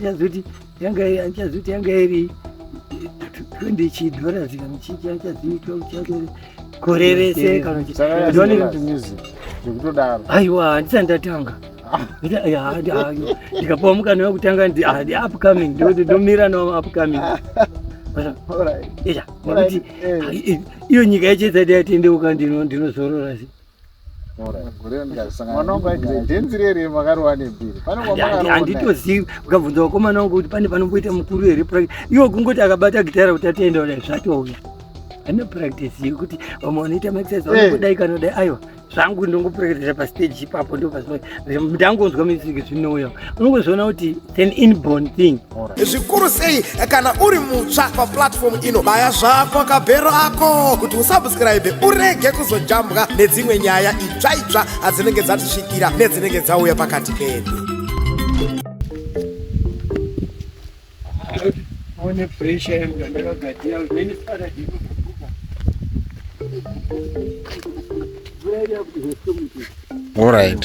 achazoiti yanga achazoiti yanga iri 20 chidollars kana chicha achazoitwa uchakere gore rese kana chikutodaro aiwa handisati ndatanga ndikapuwa mukana wekutanga upcoming ndikuti ndomira no upcoming nekuti iyo nyika yechezati yatendeuka ndinozorora handitozivi ukabvunza vakomana wangu kuti pane panomboita mukuru here iwo kungoti akabata gitara kuti atenda kudai zvatouya ane practice yekuti vamwe vanoita maexercise eh. vanodai kana dai aiwa zvangu ndongopractisa pastage ipapo ndopazvinongonzwa music zvinouya unongozviona kuti an inborn thing zvikuru sei kana uri mutsva paplatform ino baya zvako kabhero ako kuti usubscribe urege kuzojambwa nedzimwe nyaya itsva itsva adzinenge dzatisvikira nedzinenge dzauya pakati pedu one pressure yangu yandakagadzira then sara ndinokubuka All right.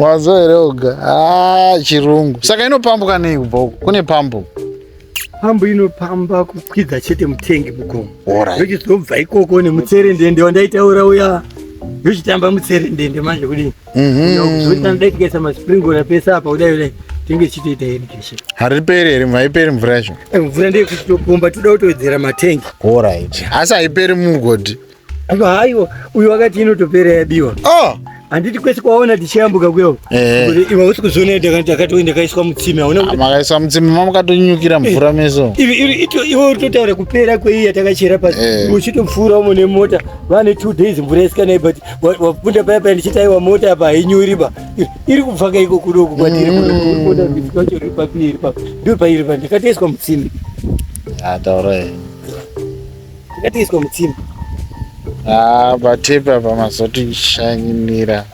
wanzwa here oga ah, chirungu saka inopambuka nei kubva uko kune pambo pambo inopamba kukwidza chete mutengi mugomo yochizobva ikoko nemutserendende wandaitaura uya yochitamba mutserendende manje kudii hariperi here haiperi mvura yacho eh, mvura ndeyekutopomba toda kutowedzera matengi orit asi haiperi mumugodhi haiwa uyu wakati inotopera yabiwa oh! handiti kwese kwaona tichiyambuka kuyo eh. iwe usi kuzviona ndakati ndakaiswa mutsime makaiswa mutsime mamukatonyukira mvura eh. meso iwe utotaura kupera kweiyi yatakachera pasi eh. uchitopfuura umo nemota vane two days mvura isikanai but wapinda paya paya ndichitaiwa mota apa hainyuri ba iri kubva kaiko kudoku kwatiri kudokuachoiri mm. papi iri papa ndo pairi pa ndikatoiswa mutsimbi ataura ah, ndikatoiswa mutsimbi ah, patepi apa mazotishainira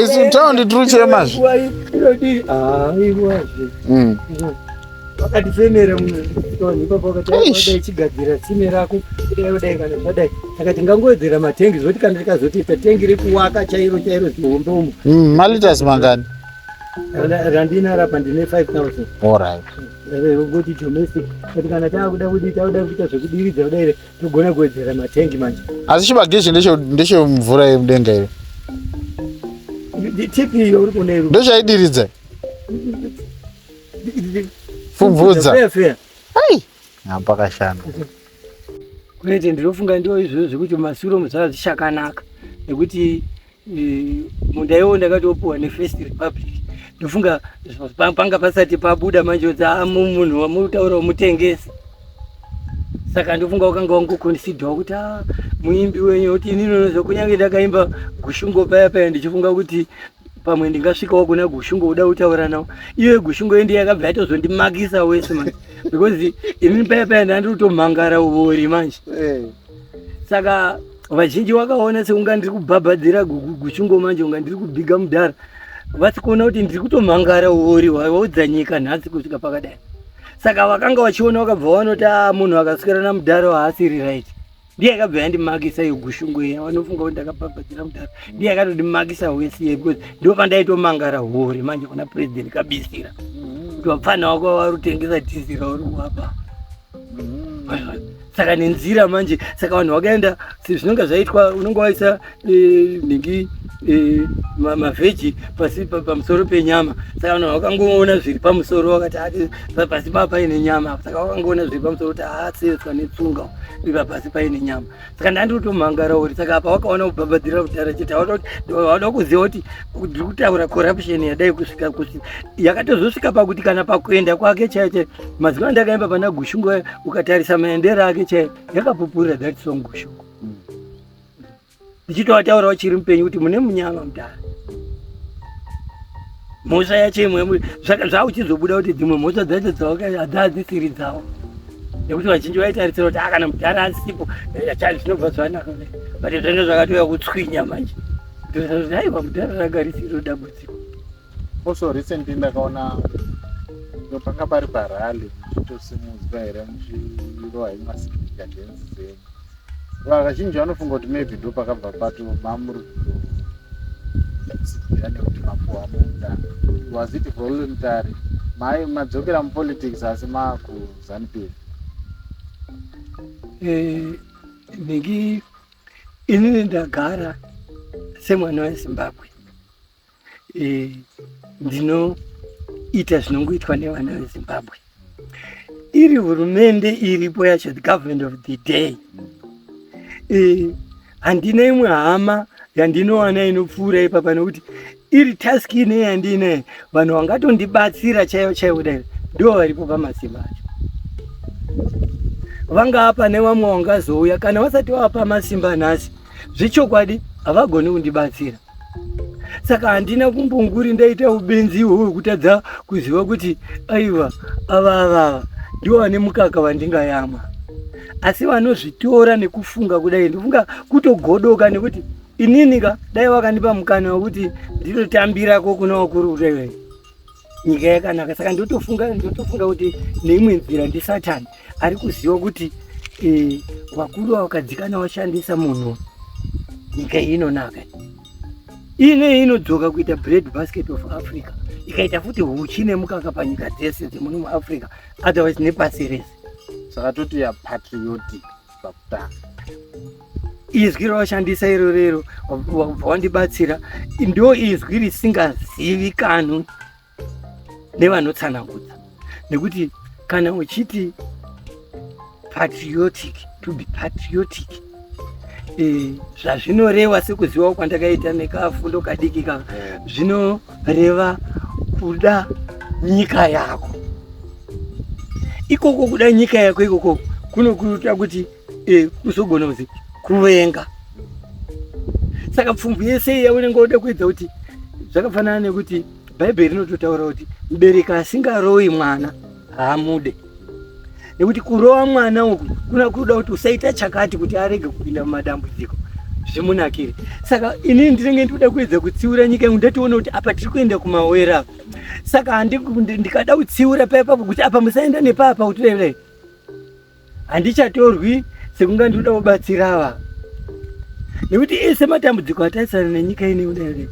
isu taundi tiri kuchema zve wakatifemera muno toni ipapo wakati Eish. dai chigadzira tsime rako kudai kudai kana zvadai akati ngangowedzera matengi zvoti kana rikazotoita tengi rekuwaka chairo chairo zihombe umu Mm, malitas mangani Ra- randinaro apa ndine 5000 orit kuti domestic kuti kana takuda kuti takuda kuita zvekudiridza kudai togona kuwedzera matengi manje asi chibagizhi ndeche- ndechemvura yemudenga iyo tipi iyo uri kuneru ndochaidiridza Fumvudza. Hai. Apa kashanda. Kwete ndinofunga ndiwo izvozvo zvekuti masuro muzaa zvichakanaka nekuti eh, munda iwo ndakatopuwa nefirst republic ndofunga panga pasati pabuda manje kuti ah, munhu wamutaura wamutengesa saka ndofunga wakanga wangokonsidhawa kuti ah, muimbi wenyu kuti inini nozokunyange ndakaimba gushungo paya paya ndichifunga kuti pamwe ndingasvikawo kuna gushungo uda kutaura nawo iwe gushungo yendi yakabva yatozondimakisa wese manje because imi paya paya ndandiri kutomhangara uvori manje eh. saka vazhinji wakaona seunga ndiri kubhabhadzira gushungo manje unga ndiri kubhiga mudhara vasi kuona kuti ndiri kutomhangara uvori waudza nyika nhasi kusvika pakadai saka vakanga vachiona vakabva vanoti a ah, munhu akaswera namudhara waasiri right ndiye akabva yandimakisa iyo gushungo iya vanofunga kuti ndakabhabhadzira mudhara ndiye akatodimakisa hwese iye because ndo pandaitomangara hori manje kuna president kabisira kuti wapfana wako wari kutengesa dhizi rauri kuwapa saka nenzira manje saka vanhu vakaenda si- zvinonga zvaitwa unonga waisa eh, nhingi eh, mavheji pasi pamusoro penyama saka vanhu vakangoona zviri pamusoro vakati ah, pasi paa paine nyama saka vakangoona zviri pamusoro kuti aasetswa ah, netsunga iva pasi paine nyama saka ndandiri kutomhangara uri saka apa wakaona kubhabhadhira kudhara chete vada kuziva kuti ndiri kutaura corruption yadai kusvika kuti yakatozosvika pakuti kana pakuenda kwake chaiyo chaiyo mazuva andakaimba pana gushungo ukatarisa maendero ake chaiyo yakapupurira that song gushungo ndichitovataurawo chiri mupenyu kuti mune munyama mudhara mhosva yacho imwe zvakuchizobuda kuti dzimwe mhosva dzacho dzadzisiri dzavo nekuti vazhinji vaitarisira kuti akana ah, mudhara asipo eh, chai zvinobva zvanaka but zvenge zvakatouya kutswinya manje aiwa mudhara ragarisiro dambudziko Also recently ndakaona ndo panga pari parally muchitosimudzwa here muchirohwa imasikika dance dzenyu vakazhinji vanofunga kuti maybe ndo pakabva pato mamuri kutosikira nekuti mapuhwa munda was it voluntary mai madzokera mupolitics asi makuzanupiri eh, ndingi inini ndagara semwana wezimbabwe ndinoita zvinongoitwa nevana vezimbabwe iri hurumende iripo yacho the government of the day handina imwe hama yandinowana inopfuura ipapa nekuti iri task ine yandine vanhu vangatondibatsira chaivo chaivo dai ndo varipo pamasimba acho vangava pane vamwe vangazouya kana vasati vava pamasimba nhasi zvechokwadi havagoni kundibatsira saka handina kumbonguri ndaita ubenzi ihwo hwekutadza kuziva kuti aiwa ava avava ndivo vane mukaka vandingayamwa asi vanozvitora nekufunga kudai ndofunga kutogodoka nekuti inini ka dai vakandipa mukana wekuti ndinotambirako kuna wakuru kudai nyika yakanaka saka ndotofunga ndotofunga kuti neimwe nzira ndisatani ari kuziva kuti eh, vakuru vakadzikana vashandisa munhu nyika iyi inonaka ine inodzoka kuita bread basket of africa ikaita futi huchi nemukaka panyika dzese dzemuno muafrica otherwise nepasi rese saka toti yapatriotic izwi rawashandisa iro rero wabva wandibatsira ndo izwi risingazivikanwi nevanotsanangudza nekuti kana uchiti patriotic to be patriotic eh, zvazvinoreva sekuzivawo kwandakaita nekafundo kadiki ka zvino reva kuda nyika yako ikoko kuda nyika yako ikoko kunokuita kuti e, kuzogona kuzi kuvenga saka pfumvu yese iya unenge woda kuedza kuti zvakafanana nekuti bhaibheri rinototaura kuti mubereki asingaroyi mwana haamude nekuti kurova mwana uku kuna kuda kuti usaita chakati kuti arege kupinda mumadambudziko zvimunakire saka inini ndinenge ndikuda kuedza kutsiura nyika yangu ndationa kuti apa tiri kuenda kumawera apa saka ndikada kutsiura paipapo kuti apa musaenda nepapa kuti revei handichatorwi sekunga ndinoda kubatsira ava nekuti ese matambudziko ataisana nenyika ine udaire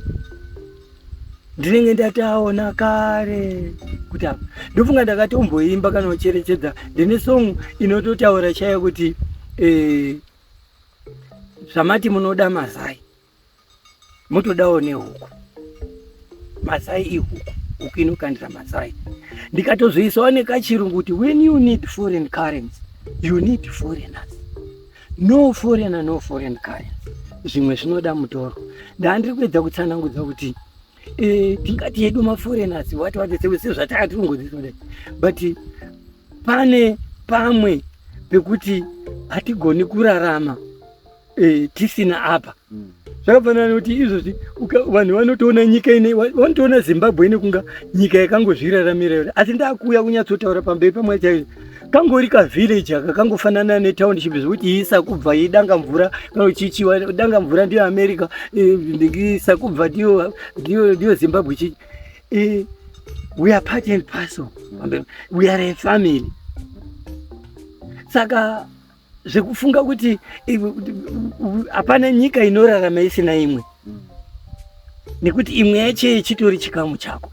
ndinenge ndataona kare kuti apa ndofunga ndakatomboimba kana ucherechedza ndine song inototaura chaiyo kuti eh, zvamati munoda mazai motodawo nehuku mazai ihuku huku inokandira mazai ndikatozoisawo nekachirungu kuti when you need foreign currency you need foreigners no foreigner no foreign currency zvimwe zvinoda mutoro ndaandiri kuedza kutsanangudza kuti eh, tingati yedu maforeigners wati wadetsewe sezvatakatirungodzisode but pane pamwe pekuti hatigoni kurarama eh, tisina apa mm. zvakafanana nekuti izvozvi vanhu vanotoona nyika ine vanotoona zimbabwe ine kunga nyika yakangozviraramira yona asi ndakuuya kunyatsotaura pamberi pamwari chaizvo kangori kavillage aka kangofanana netownship zvekuti isakubva idanga mvura chichiwa danga mvura ndiyo america eh, sakubva ndiyo zimbabwe chichi eh, we are part and parcel we are a family saka zvekufunga kuti hapana nyika inorarama isina imwe nekuti imwe yacho yechitori chikamu chako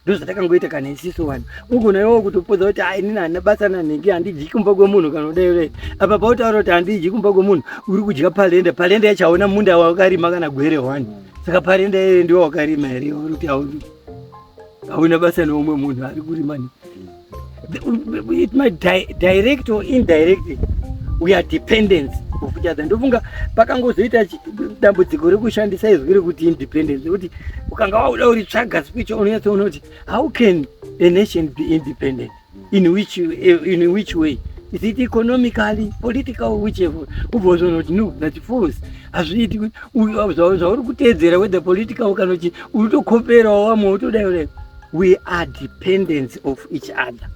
ndozvatakangoita kana isiso vanhu ugona iwo kutopodza kuti a inini hana basa nanhingi handidyi kumba kwemunhu kana udaire apa pautaura kuti handidyi kumba kwemunhu uri kudya palenda palenda yacho hauna munda wakarima kana gwere wani saka palenda yeye ndiwo wakarima here uri kuti hauna basa neumwe munhu ari kurima ni it might di direct or indirectly we are dependence of each other ndofunga pakangozoita dambudziko rekushandisa izwi rekuti independence kuti ukanga wauda uri tsvaga speech unonyatsoona kuti how can a nation be independent in which, in which way is it economically political whichever ubozoona kuti no that force hazviiti zvauri kuteedzera whether political kana kuti uri tokoperawo wamwe wotodayo we are dependents of each other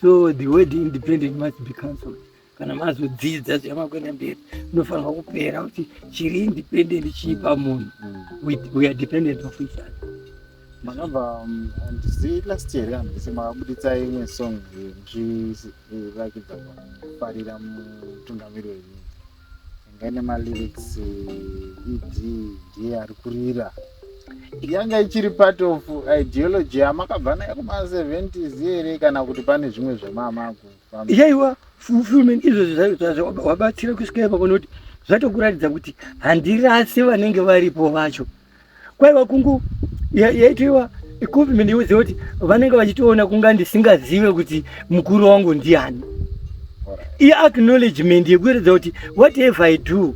so the word independent must be cancelled kana mazodzidza zvamakuenda mberi unofanirwa kupera kuti chiri independent chii pamunhu we are dependent of each other makabva um, handisi last year handisi makabuditsa imwe song zvirakidza kufarira mutungamiri wenyika yanga ine malyrics ed ndiye ari kurira yanga ichiri part of ideology yamakabva nayo kuma70s here kana kuti pane zvimwe zvamamakuyaiwa fulfilment izvozvo zvaizvazvo wabatsira kusvika ipakonoti zvatokuratidza kuti handirasi vanenge varipo vacho kwaiva kungu yaitoiwa equipment yekuti kuti vanenge vachitoona kunga ndisingazive kuti mukuru wangu ndiani iacknowledgement yekuratidza kuti whatever i do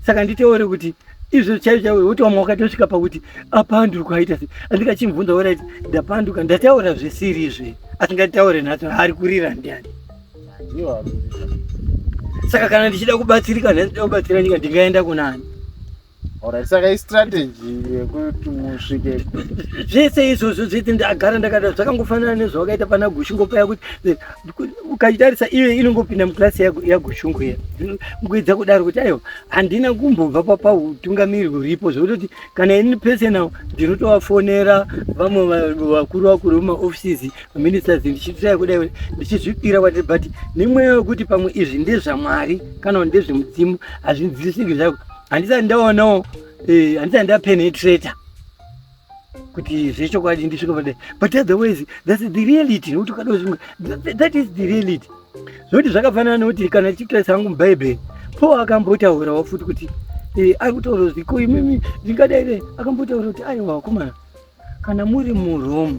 saka nditeore kuti izvo chaivo chaivo woti wamwe wakatosvika pakuti apanduka aita se andikachimubvunza woraiti ndapanduka ndataura zvisiri izve asingataure nhasi ari kurira ndiani saka kana ndichida kubatsirika nhasi ndida kubatsira nyika ndingaenda kunani Alright, saka istrategy yekuti musvike zvese izvozvo zvese ndagara ndakada zvakangofanana nezvawakaita pana gushungo paya kuti eh, ukatarisa iyo inongopinda muklasi yagushungo iya kuedza kudaro kuti aiwa handina kumbobva papautungamiri huripo zvekutoti kana ini pese nawo ndinotovafonera vamwe vakuru vakuru vemaoffices ministers ndichitaya kudai kuti ndichizvipira kwatiri but nemweya wekuti pamwe izvi ndezvamwari kana kuti ndezvemudzimu hazvinzwisiki zvako handisati ndaonawo eh, handisati ndapenetrator kuti zvechokwadi ndisvika pade but otherwise thats the reality nokuti ukadozvimwe that is the reality zvokuti zvakafanana nokuti kana tichitarisa hangu mubhaibheri paul akambotaurawo futi kuti eh, ari kutaura kuti ko imimi ndingadai akambotauura kuti aiwa vakomana Kana muri muRome,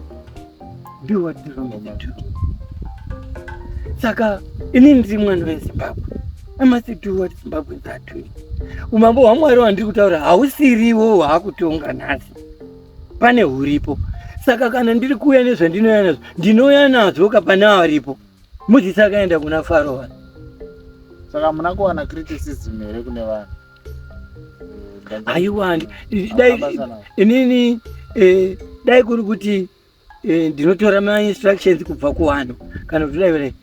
do what the Romans do. Saka ini ndiri mwana weZimbabwe. I must do what Zimbabweans are doing. Umambo hwaMwari wandiri kutaura hausiriwo hwaakutonga nhasi. Pane huripo. Saka kana ndiri kuuya nezvandinouya nazvo, ndinouya nazvo kapane aripo. Mozisi akaenda kuna Faro. Saka muna kuwana criticism here kune vanhu? aiwa dai inini eh, dai kuri kuti eh, ndinotora mainstructions kubva kuwano kana kuti dai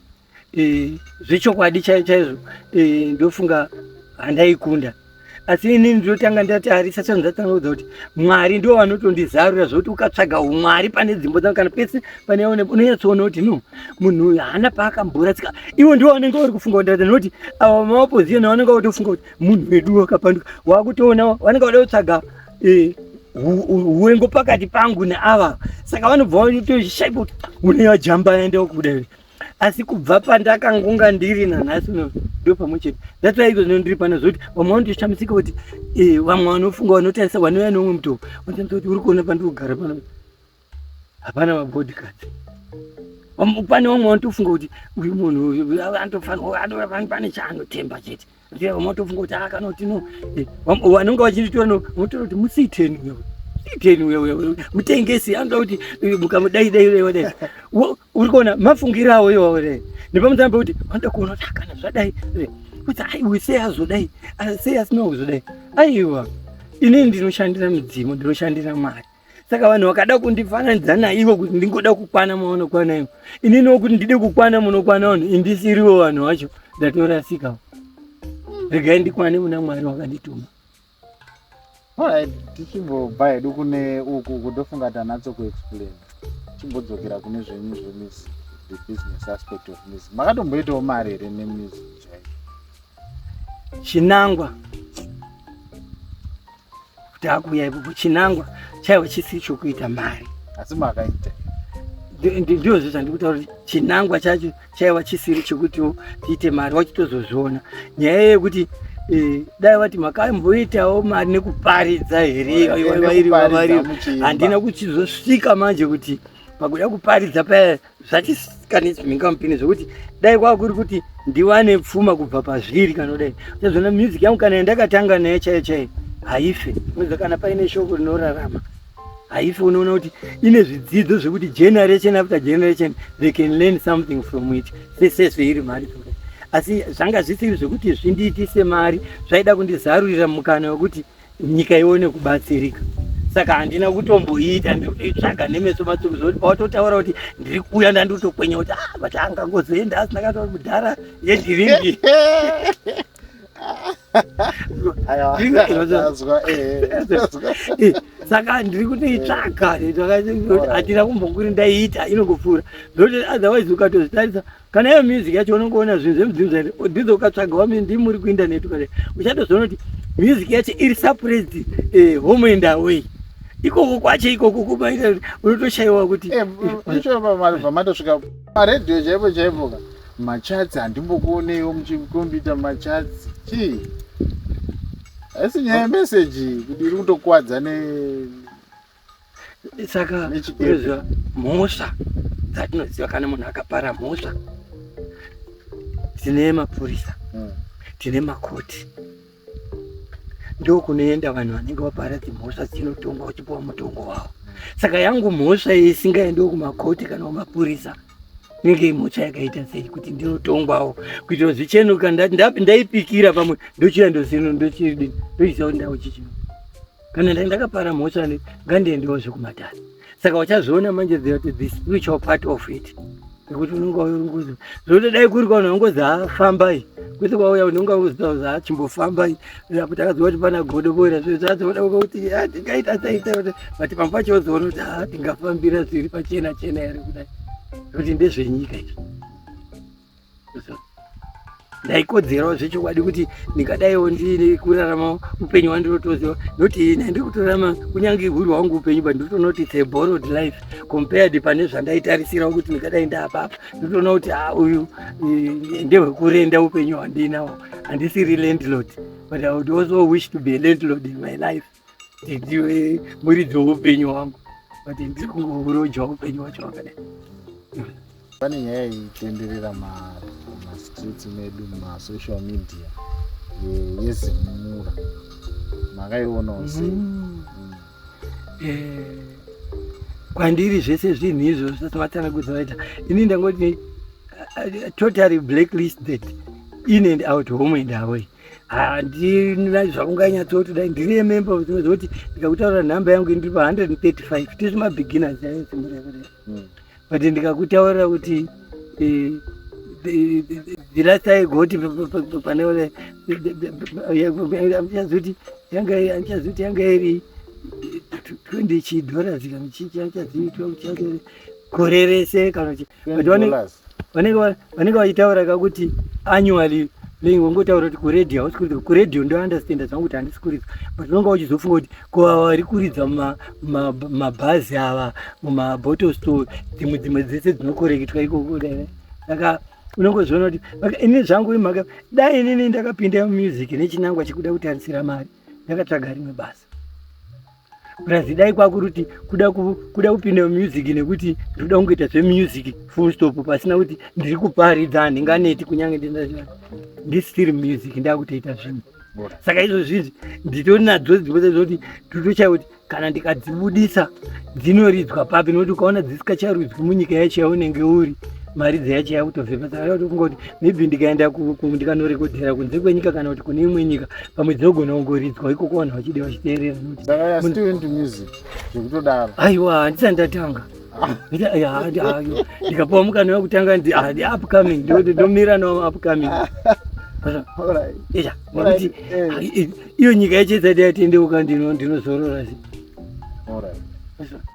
eh, zvechokwadi chaizvo chaizvo ndofunga handaikunda asi inini ndinotanga ndatarisa chinhu ndatanga kudza kuti mwari ndiwo vanotondizarura zvokuti ukatsvaga umwari pane dzimbo dzangu kana pese pane unonyatsoona kuti no munhu uyu haana paakamhura tsika ivo ndivo vanenge vari kufunga kuti noti ava maopposition vanenge vatofunga kuti munhu wedu wakapanduka waakutoona vanenge vada kutsvaga eh, huwengo pakati pangu neava saka vanobva vatoshaipa kuti une vajamba aenda kuda asi kubva pandakangonga ndiri nanhasi ndo pamwe chete that's why izvozvino ndiri pana zvokuti vamwe vanotoshamisika kuti eh, vamwe vanofunga vanotarisa vanouya neumwe mutovo vanotamisa kuti uri kuona pandiri kugara pano hapana mabodyguards pane vamwe vanotofunga kuti uyu munhu uyu anotofanirwa pane chaanotemba chete vamwe vanotofunga kuti akanoti ah, no eh, vanonga vachinditora no votora kuti musiiteni uyo iteni uyo uyo mutengesi anoda kuti eh, mukamudai dai dai wadai uri kuona mafungiro awo iwawo dai nepamusana pekuti vanoda kuona kuti akana ah, zvadai eh, kuti ai uyu sei azodai ah, sei asina kuzodai aiwa inini ndinoshandira midzimu ndinoshandira mari saka vanhu vakada kundifananidza naivo kuti ndingoda kukwana mavanokwana ivo inini wokuti ndide kukwana munokwana vanhu indisiriwo vanhu vacho ndatorasika regai ndikwane muna mwari wakandituma tichimbobva hedu kune uku kutofunga tanatso kuexplain chimbodzokera kune zvenyu zvemizi the business aspect of mizi makatomboitawo mari here nemizi chaiyo chinangwa takuuya ipopo chinangwa chaivo chisi chokuita mari asi makaita ndiozvo zvandikutaura kuti chinangwa chacho chaiva chisiri chekuti tiite mari wachitozozviona nyaya yekuti eh, dai vati makamboitawo mari nekuparidza here handina kuchizosvika manje kuti pakuda kuparidza paya zvatikanisi mhingampini zvekuti dai kwakuri kuti ndiwane pfuma kubva pazviri kana kudai chazvona music yangu kana yandakatanga naye chaiyo chaiyo haife unoziva kana paine shoko rinorarama haife unoona kuti ine zvidzidzo zvekuti generation after generation they can learn something from it sesese iri mari asi zvanga zvisiri zvekuti zvindiitise mari zvaida kundizarurira mukana wekuti nyika ione kubatsirika saka handina kutomboita ndikutoitsvaga nemeso matsoko zvekuti pawatotaura kuti ndiri kuuya ndandikutokwenya kuti ah, but angangozoenda asina katauri kudhara yedhiringi saka ndiri kutoitsvaga hatina kumbokuri ndaiita inongopfuura ndoti otherwise ukatozvitarisa kana iyo music yacho unongoona zvinhu zvemudzimu zvae odhiza ukatsvaga wami ndi muri kuindaneti kare uchatozoona kuti music yacho iri suppressed eh, home and away ikoko kwacho ikoko kubaita unotoshayiwa kuti eh, pamatosvika maradio chaipo chaipo ka machatsi handimbokuoneiwo muchikombita machatsi chii haisi nyaya yemeseji kuti iri kutokuwadza ne saka unoziva mhosva dzatinoziva kana munhu akapara mhosva tine mapurisa hmm. tine makoti ndokunoenda vanhu vanenge vapara dzimhosva dzinotongwa uchipiwa mutongo wavo saka yangu mhosva isingaendi kumakoti kana kumapurisa inenge imhosva yakaita sei kuti ndinotongwawo kuitira zvichenuka ndaipikira pamwe ndochiya ndoziva ndochiisa kuti ndau chichino kana ndai ndakapara mhosva ne ngandiendewo zvekumatare saka wachazviona manje that the spiritual part of it nekuti unenge wauya ungozi zvokuti dai kuri kwaunhu ungozi hafambai kwese kwauya unhu unga ungoziva kuti hachimbofambai kuti akaziva kuti pana godo boira zvo zvazoona uka kuti tingaita saita kuti but pamba pacho ozoona kuti ha tingafambira zviri pachena chena here kudai kuti ndezvenyika izvi ndaikodzerawo zvechokwadi kuti ndingadaiwo ndiine kurarama upenyu hwandirotoziva noti ina ndiri kutorarama kunyange huri hwangu upenyu but nditoona kuti the borrowed life compared pane zvandaitarisirawo kuti ndingadai ndaapapa nditoona kuti ha ah, uyu eh, ndehwekurenda upenyu hwandiinawo handisiri landlord but i would also wish to be a landlord in my life ndiwe muridzi weupenyu wangu but ndiri kuroja upenyu wacho wakadai pane nyaya itenderera mastreets medu masocial media yezimura makaionawo mm. sei mm. eh, kwandiri zvese zvinhu izvo zvatvatanga kuzoita ini ndangoti eh, eh, totally blacklisted in and out home and away handina zvaunganyatsoti dai ndiri yememba unoziva kuti ndikakutaurira nhamba yangu ndiri pa 135 tiri mabeginners ayo simurevere hmm. but ndikakutaurira kuti eh, eh, the last time goti pane ule andichazoti yanga andichazoti yanga iri 20 chidollars kana chichachaziitwa kuchazoti gore rese kana kuti vanenge vachitaura ka kuti annually playing wangotaura kuti kuradio hausi kuridza kuradio ndounderstanda zvangu kuti handisi kuridza but unonga uchizofunga kuti ko vari kuridza mabhazi ava mumabottle store dzimwe dzimwe dzese dzinokoreketwa ikoko dai saka unongozviona kuti ini zvangu imhaka dai inini ndakapinda mumusiki nechinangwa chekuda kutarisira mari ndakatsvaga rimwe basa Brazidai kwakuruti kuda kuda kupinda music nekuti ndoda kungoita zvemusic full stop pasina kuti ndiri kuparidza handinganeti kunyange ndinazvina ndi still music ndakutoita zvinhu saka izvozvizvi nditori nadzo dziboza zvokuti ndotochaya kuti kana ndikadzibudisa dzinoridzwa papi nokuti ukaona dzisikacharwidzwi munyika yacho yaunenge uri mari dzeyacho yakutobvepa saka yakutofunga kuti maybe ndikaenda ndikanorekodhera kunze kwenyika kana kuti kune imwe nyika pamwe dzinogona kungoridzwa ikoko vanhu vachide vachiteerera zvekutodaro aiwa handisani ndatanga ndikapuwa mukana wekutanga upcoming ndomira nawo upcoming iyo nyika yechezati yatendeuka ndinozorora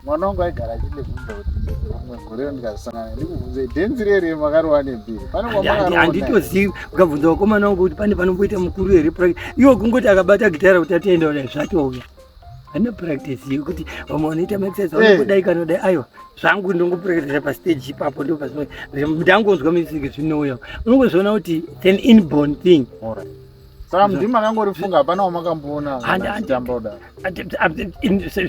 mwana wangu aigara achindibvunza kuti rimwe gore ndikazosangana ndikubvunze dhenzi rere makarova nembiri panehanganditozivi ukabvunza vakomana wangu kuti pane panomboita mukuru here practice iwo kungoti akabata gitara kuti atoenda kudai zvatouya hana practice yekuti vamwe vanoita maexercise vanodai eh. kanodai aiwa zvangu ndongopractisa pastage ipapo ndopazvinondangonzwa music zvinouya unongozviona kuti an inborn thing All right. Saka mdii makangorifunga hapana wamakamboona achitamba kudaro.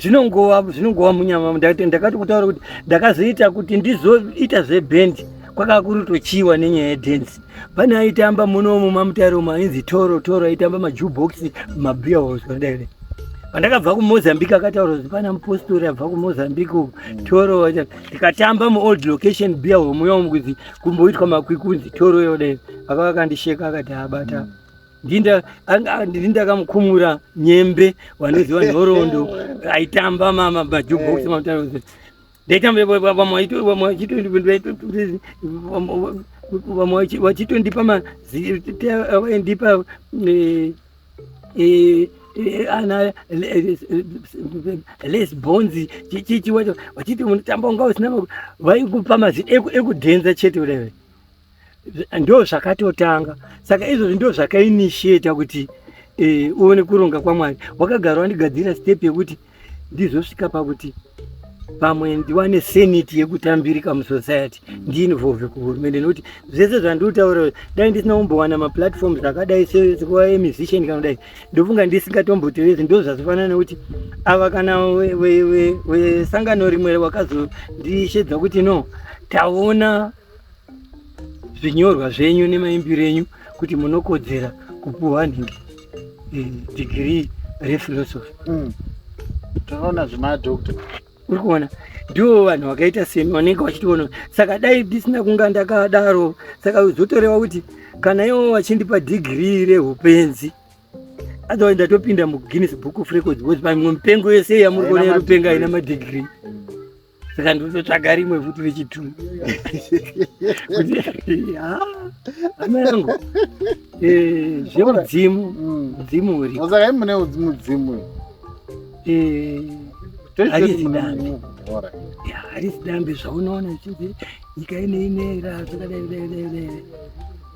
Zvinongova zvinongova munyama ndakati kutaura kuti ndakazoita kuti ndizoita zvebhendi kwakava kuri kutochiiwa nenyaya yedhenzi. Pane aitamba munomu mamutare umu ainzi Toro Toro aitamba majubhokisi mabhiya hoswa kudai. Pandakabva kuMozambique akataura kuti pana mupostori abva kuMozambique uku mm. Toro ndikatamba muold location beer home yomu kuti kumboitwa makwikunzi toro yode akava akandisheka akati abata mm. ndinda ndindakamukumura nyembe wanoziva nhorondo aitamba mama majubox eh. mautarozi ndaitamba vamwe vachitondipa mazivaindipa eh, Eh, eh, ana eh, les bonzi chichi wacho wachiti unotamba unga usina vaikupa mazi ekudhenza chete urewe ndo zvakatotanga saka izvozvi ndo zvakainitiata kuti uone kuronga kwamwari wakagara wandigadzira step yekuti e, ndizosvika pakuti pamwe ndiwane senate yekutambirika musociety ndiinvolve kuhurumende nokuti zvese zvandiutaura dai ndisina kumbowana maplatforms akadai sekuva emusician kana kudai ndofunga ndisingatomboterezi ndo zvazofanana nekuti ava kana wesangano rimwe wakazondishedza kuti no taona zvinyorwa zvenyu nemaimbiro enyu kuti munokodzera kupuhwa nhingi eh, degree rephilosophy mm. tinoona zvemadoctor uri kuona ndiwo vanhu vakaita semi vanenge vachitoona saka dai ndisina kunga ndakadaro saka zvotoreva kuti kana iwo vachindipa dhigirii reupenzi otherwise ndatopinda muguinness book of records bcause pamwe mipengo yese yamuri kuona yerupenga ina madhigirii saka ndototsvaga rimwe futi rechitu amerangu eh, zvemudzimu mm. mudzimu urikosaka i mune mudzimu eh, harisi dambe zvaunoona chinzi nyika ineinera zvakadaidaidaidaira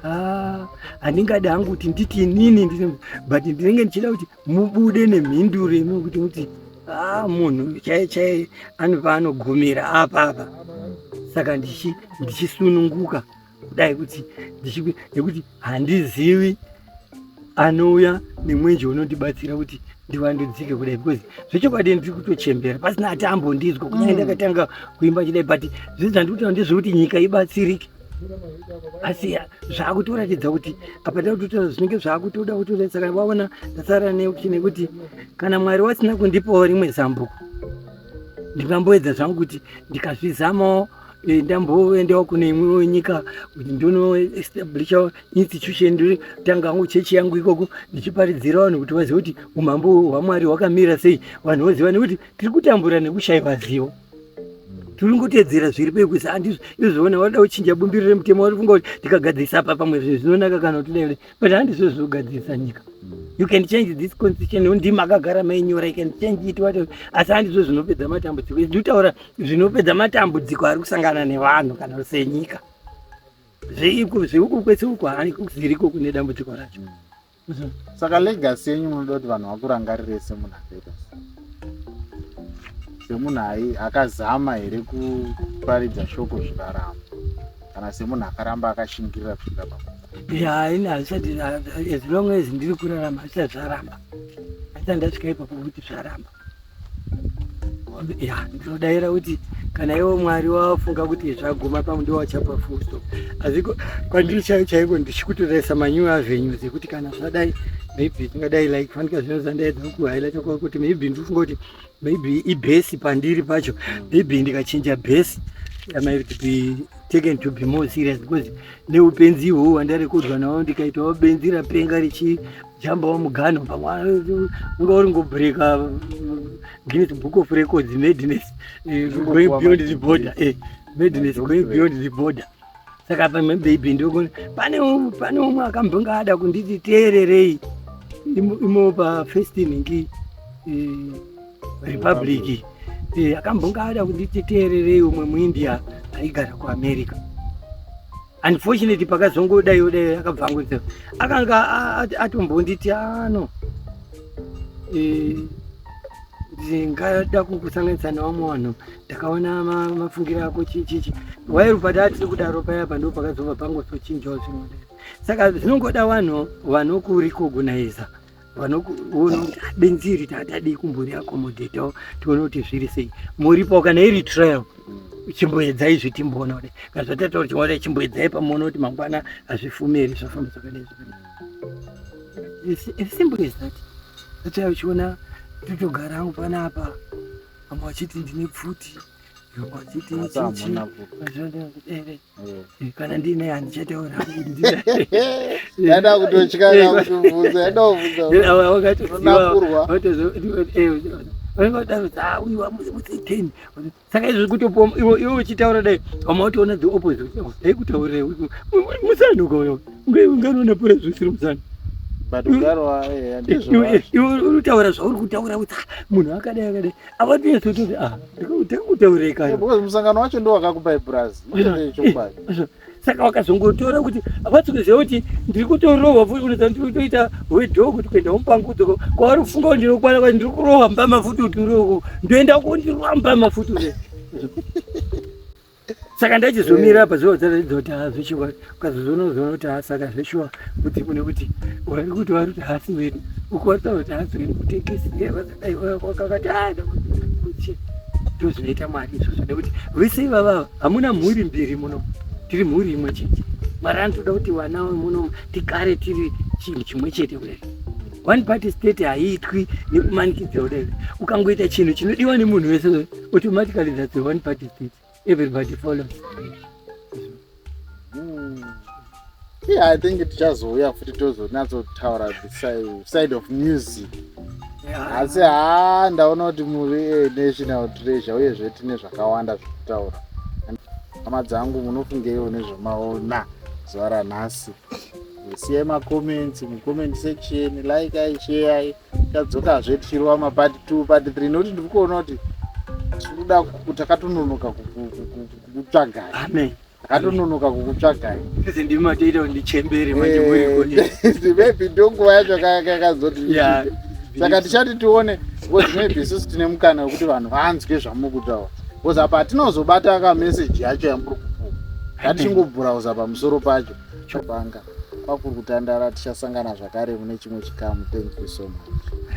ah, handingadi hangu kuti nditi inini but ndinenge ndichida kuti mubude nemhinduro imwe kuti muti ah, munhu chai chai anova anogumira apa apa saka ndichisununguka kudai kuti nekuti handizivi anouya nemwenje unondibatsira kuti ndivandudzike kudai because zvechokwadi ndiri kutochembera pasina ati ambondinzwa kunyaya mm. ndakatanga kuimba chidai but zvinhu zvandiri kutaura ndezvekuti nyika ibatsirike asi zvakutoratidza kuti apa ndakutotaura zvinenge zvakutoda kutoratidza kana vaona ndasara neuti nekuti kana mwari wasina kundipawo rimwe zambuko ndingamboedza zvangu kuti ndikazvizamawo eh, ndamboendawo kune imwewo nyika kuti ndonoestablisha institution ndotanga hangu chechi yangu ikoko ndichiparidzira vanhu kuti vazive kuti umambo hwamwari hwakamira sei vanhu voziva nekuti tiri kutambura nekushaiwa zivo tinongotedzera zviri pekuisa andizvo izvozvona wada kuchinja bumbiro remutemo wari funga kuti ndikagadzirisa apa pamwe zvinhu zvinonaka kana kuti dai but handizvo zvinogadzirisa nyika mm. you can change this constitution undi makagara mainyora you can change it wat asi handizvo zvinopedza matambudziko izvi ndikutaura zvinopedza matambudziko ari kusangana nevanhu kana senyika zveiko zveuko kwese uko haani kuziriko kune dambudziko racho mm. saka legacy yenyu munoda kuti vanhu vakurangarire semunhu akaita semunhu ai akazama here kuparidza shoko zvikaramba kana semunhu akaramba akashingirira kusvika pakuaini hazvisati as long as ndiri kurarama hazvisati zvaramba hazvisati ndasvika ipapo kuti zvaramba ya ndinodaira kuti kana iwo mwari wafunga kuti zvaguma pamwe ndiwo wachapa fuso asi kwandiri chaiyo chaiko ndichikutoresa manyuwe azvenyu dzekuti kana zvadai maybe tingadai like fanika zvino zvandaedza kukuhailata kwa kuti maybe ndikufunga kuti maybe ibhesi pandiri pacho maybe ndikachinja bhesi yamight be taken to be more serious because neupenzi ihwohwo hwandarekodzwa nawo ndikaitawo benzi rapenga richi jamba wamugano pamwe unga uri ngobreaka uh, guinness book of records madness eh, going beyond the border eh, madness going beyond the border saka pamwe baby ndokone pane pane umwe akambonga ada kunditi teererei imo pa first ningi eh, republic akambonga ada kunditi teererei umwe muindia aigara kuamerica unfortunately pakazongodaiwo dai akabva angoita akanga atombonditi ano e, ndingada kukusanganisa nevamwe vanhu ndakaona mafungiro ako chichichi wairu padaa tiri kudaro paya pando pakazova pangosochinjawo zvinhu saka zvinongoda vanhu vanokurikogunaiza vanokuona kuti ah, benzi iri tatadii kumbori akomodhetawo tione kuti zviri sei muripo kana iri trial chimboedzai izvi timboona kuti kana zvatataura chimboona chimboedzai pamuona kuti mangwana hazvifume here zvafamba zvakadai zvakadai simple as that ataa uchiona totogara hangu panapa vamwe vachiti ndine pfuti vamwe vachiti chichi Eh, kana ndine handichataura yada kutotya kutobvunza yada kuvhunzawakatozodauzamuzimutheni saka izvi kutopo iwe uchitaura dai vamwe watoona the opposite dai kutaurire musana ukoyo unganoona pora zvisiri musana iwe unotaura zvauri kutaura kuti munhu akadai akadai ava tiye tototi a ndikutaureka because musangano wacho ndo wakakupa ibraz chokwadi saka vakazongotora kuti vatikuziva kuti ndiri kutorohwa futi kuti ndiri kutoita wedhoo kuti kuenda mupangudzoko kwavari kufunga kuti ndinokwana kwai ndiri kurohwa mbama futi kuti ndoenda kundirwa mbama futi saka ndachizomira apa zviva zvaratidza kuti haa zveshuwa ukazozoona uzoona kuti haa saka zveshuwa kuti une kuti wari kuti wari kuti hasi wedu uku wari taura kuti hasi wedu kutekisi vakadai vakakati haa ndakuti ndozvinoita mwari izvozvo nekuti vese ivavava hamuna mhuri mbiri muno tiri mhuri imwe chete mwari anotoda kuti vana muno tigare tiri chinhu chimwe chete kudai one party state haiitwi nekumanikidzwa kudai ukangoita chinhu chinodiwa nemunhu wese automatically that the one party state everybody follows hmm. yeah i think tichazouya futi tozonatsotaura the side of music asi haa ndaona kuti muri eh, national treasure uyezve tine zvakawanda zvekutaura hama dzangu munofungeiwo nezvamaona zuva ranhasi siyai macomments mucomment section like ai sheyai tadzokazve tichirova mapati two pati three nokuti ndiri kuona kuti tikuda takatononoka kukutsvagai amen akatononoka kukutsvagai sisi ndimi matoita kuti ndichembere eh, manje murikomaybe ndonguva yacho kakazoti saka tichati tione because maybe isusu tine mukana wekuti vanhu vanzwe zvamuri kutaura because apa hatinozobata kameseji yacho yamuri kupuwa ngatichingobhurauza pamusoro pacho Chobanga kwakuri kutandara tichasangana zvakare mune chimwe chikamu thank you so much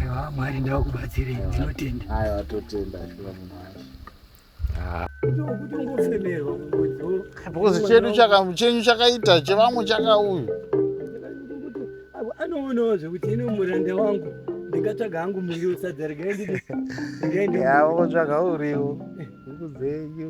aiwa mwari ndavakubatsirei ndinotenda ayo atotenda aiwa munhu wacho kutongofemerwa kungodzo because chedu chaka- chenyu chakaita chevamwe chakauyu anoonawo zvekuti ino muranda wangu ndingatsvaga hangu muriwo sadza regai ndidi regai ndidi- yavo tsvaga uriwo huku dzenyu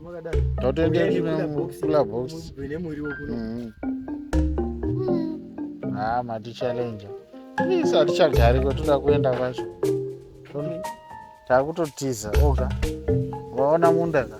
totoenda kula box mm-hmm. haa matichalenja isi hatichagari kwatoda kuenda kwacho takutotiza oga vaona munda ka